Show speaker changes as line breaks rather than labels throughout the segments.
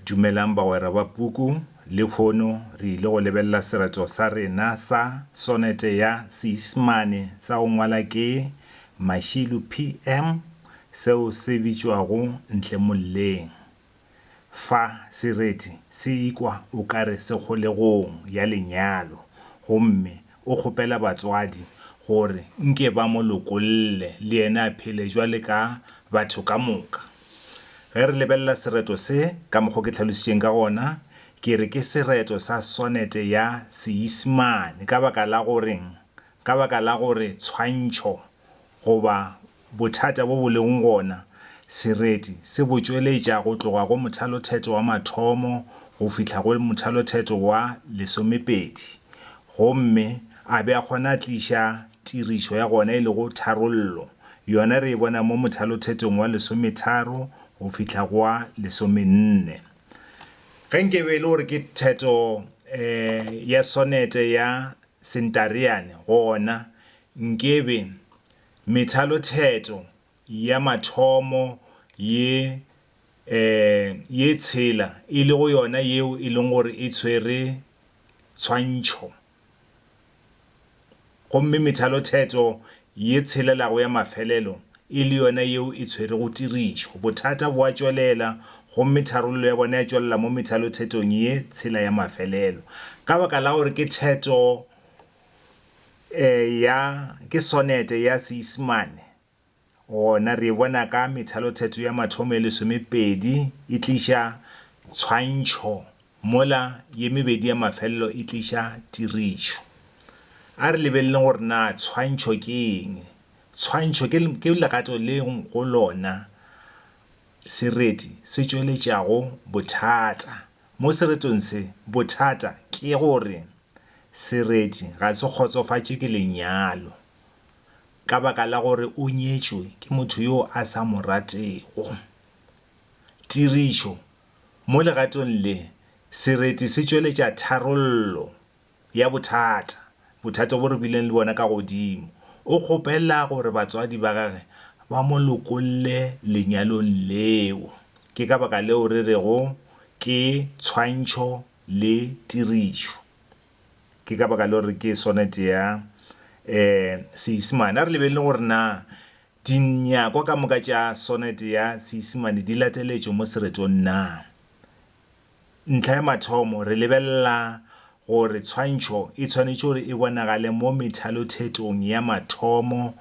Dumelang bagwera ba puku. Lekhono re ile go lebelela serato sa rena sa sonete ya Seisimane sa go ngwala ke Mashilo PM seo se bitšwago Ntle Molleng. Fa se reti se ikwa o ka re se kgolegong ya lenyalo gomme o kgopela batswadi gore nke ba mo lokolle le yena a phele jwale ka batho ka moka. Ge re lebelela sereto se, ka mokgo ke hlalošitšeng ka gona, ke re ke sereto sa sonete ya Seisimane ka baka la goreng? Ka baka la gore tshwantšho goba bothata bo bo lego gona sereti se bo tšweletša go tloga go mothalothetho wa mathomo go fihla go mothalothetho wa lesomepedi gomme a be a kgona tliša Tirišo ya gona e lego tharollo yona re e bona mo mothalothetong wa lesometharo go fihla go wa lesomenne. Ge nke be e le gore ke theto ya sonete ya Sentareane gona nke be methalotheto ya mathomo ye ye tshela e lego yona yeo e leng gore e tshwere tshwantšho. Gomme methalothetho ye tshelelago ya mafelelo e le yona yeo e tshwerego tirišo. Bothata bo a tšwelela, gomme tharollo ya bona ya tšwelela mo methalothethong ye tshela ya mafelelo. Ka baka la gore ke theto ya, ke sonete ya Seisemane, Gona re e bona ka methalothetho ya mathomo e lesomepedi e tliša tshwantšho mola ye mebedi ya mafelelo e tliša tirišo. A re lebeleleng gore na tshwantšho ke eng. Tshwantšho ke legato le go lona sereti se tšweletšago bothata. Mo seretong se, bothata ke gore sereti ga se kgotsofatše ke lenyalo. ka baka la gore o nyetšwe ke motho yo a sa mo ratego. Tirišo, Mo legatong le, sereti se tšweletša tharollo ya bothata, bothata bo re bileng le bona ka godimo. O kgopela gore batswadi ba gage ba mo lokolle lenyalong leo. Ke ka baka leo re rego ke tshwantšho le tirišo. Ke ka baka leo re ke sonete ya Seisemane. A re lebelele gore na dinyakwa ka moka tša sonete ya Seisemane di lateletšwe mo seretong na. Ntlha ya mathomo, re lebelela gore tshwantšho e tshwanetše gore e bonagale mo methalothetong ya mathomo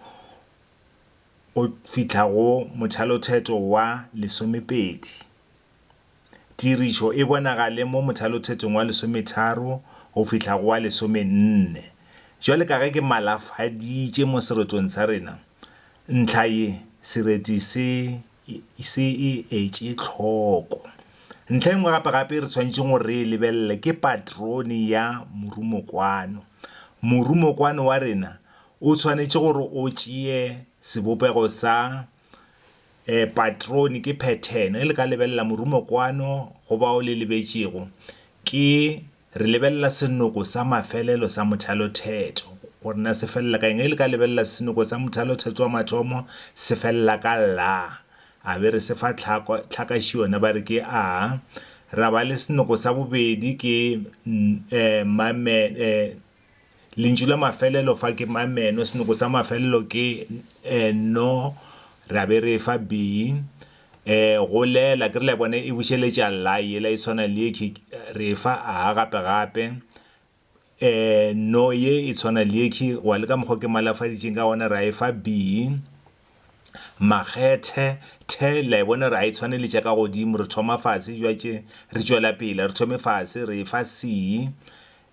go fihla go mothalothetho wa lesomepedi. Tirišo e bonagale mo mothalothetong wa lesometharo go fihla go wa lesomenne. Bjale ka ge ke malafaditše mo seretong sa rena, ntlha ye sereti se se e etše hloko. Ntlha ye nngwe gape-gape e re swanetšeng go re e lebelele ke patrone ya morumokwano. Morumokwano wa rena o swanetše gore o tšee sebopego sa um patrone ke phethene ge le ka lebelela morumokwano go bao le lebetšego ke re lebelela senoko sa mafelelo sa mothalothetho gore na se felela ka eng ge le ka lebelela senoko sa mothalothetho wa mathomo se felela ka la a be re se fa tlhakaši yona ba re ke a ra ba le senoko sa bobedi ke um Lentšu la mafelelo fa ke ma meno, senoko sa mafelelo ke e no, ra be re efa bi. E go lela, ke re la bona e bušeletša la, yela e tshwana le yekhi, re efa a gape gape. E no ye e tshwana le yekhi, wa le ka mokgwa ke malafaditšeng ka gona, ra efa bi. Makgethe, the, la e bona ra e tshwaneletša ka godimo, re thoma fase, jwa tše re tšwela pele, re thome fase, re efa si.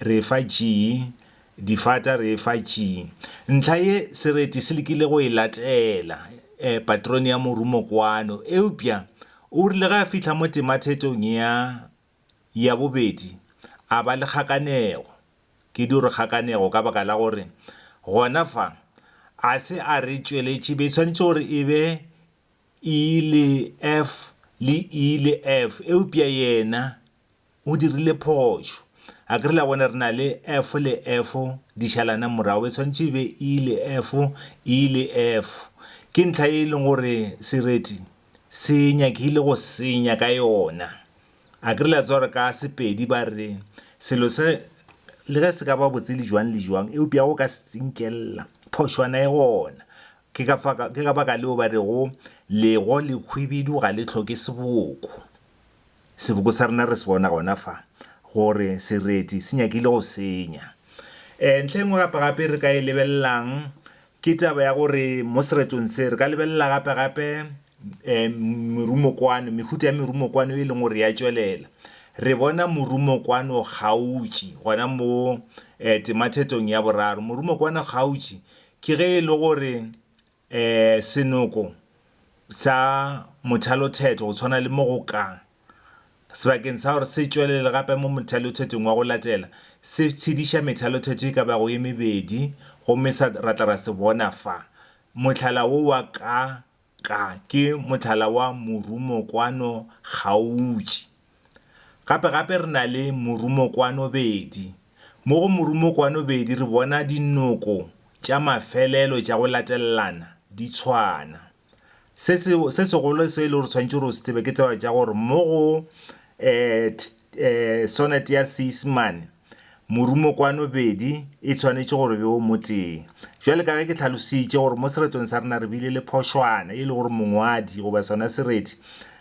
Re e fa G. Difata re e fa G. Ntlha ye Sereti se lekile go e latela paterone ya morumokwano, eupša o rile ge a fihla mo temathetong ya ya bobedi a ba le kgakanego. Ke dio re kgakanego ka baka la gore gona fa a se a re tšweletše be e swanetše gore e be E le F le E le F, eupša yena O dirile phošo. A ke re la bona re na le efo le efo di šalana morago, e swanetše e be i le efo, i le efo. Ke ntlha ye e leng gore sereti se nyakile go senya ka yona. A ke re la tseba gore ka Sepedi ba re, selo se le ge se ka ba botse le jwang le jwang, eupša go ka se tsinkelela, phošwana e gona. Ke ka fa, ke ka baka leo ba rego, Lego lehwibidu ga le hloke seboko. Seboko sa rena re se bona gona fa, gore sereti se nyakile go senya. Um Ntlha e nngwe gape-gape e re ka e lebelelang ke taba ya gore mo seretong se re ka lebelela gape-gape um merumokwano, mehuta ya merumokwano e leng gore ya tšwelela. Re bona morumokwano kgautši gona mo um temathetong ya boraro. Morumokwano kgautši ke ge e le gore Ee, senoko sa mothalothetho go tshwana le mo go ka, sebakeng sa gore se tšwelele gape mo mothalothetong wa go latela, se tshediša methalothetho e ka bago e mebedi gomme sa ra tla ra se bona fa. Mohlala wo wa ka ka ke mohlala wa morumokwano kgautši. Gape gape re na le morumokwanobedi. Mo go morumokwanobedi re bona dinoko tša mafelelo tša go latelelana di tshwana. Se se, se segolo se e le gore tshwanetse gore o se tsebe ke taba tša gore mo go, eh, eh, sonete ya Seisemane, Morumokwano bedi e tshwanetše gore be o mo tee. Bjale ka ge ke hlalositše gore mo seretong sa rena re bile le phošwana e le gore mongwadi goba sona sereti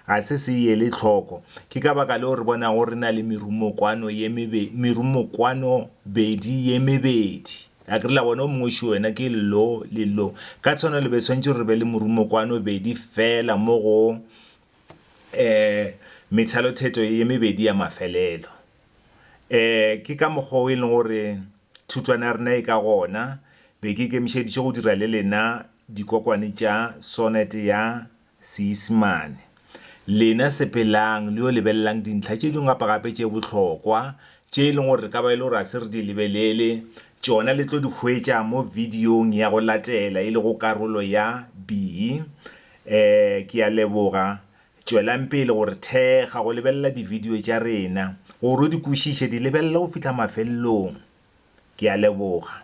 ga se se e ele hloko, ke ka baka leo re bonago re na le merumokwano ye mebe, merumokwano bedi ye mebedi. A ke re la bona, o mongwe šo wena ke lo le lo. Ka tshwanelo be swanetše gore re be le morumokwano bedi feela mo go, ee, methalotheto ye mebedi ya mafelelo. Ee, ke ka mokgwa o e leng gore thutwana ya rena e ka gona. Be ke ikemišeditše go dira le lena dikokwane tša sonete ya Seisemane. Lena sepelang le yo lebelelang dintlha tše dingwe gapa gape tše bohlokwa, tše e leng gore re ka ba e le gore ga se re di lebelele, tšona le tlo di hwetša mo bidiong ya go latela e lego karolo ya ii. Ee, ke a leboga. Tšwelang pele go re thekga, go lebelela dividio tša rena, gore o di kwešiše, di lebelele go fihla mafelelong. Ke a leboga.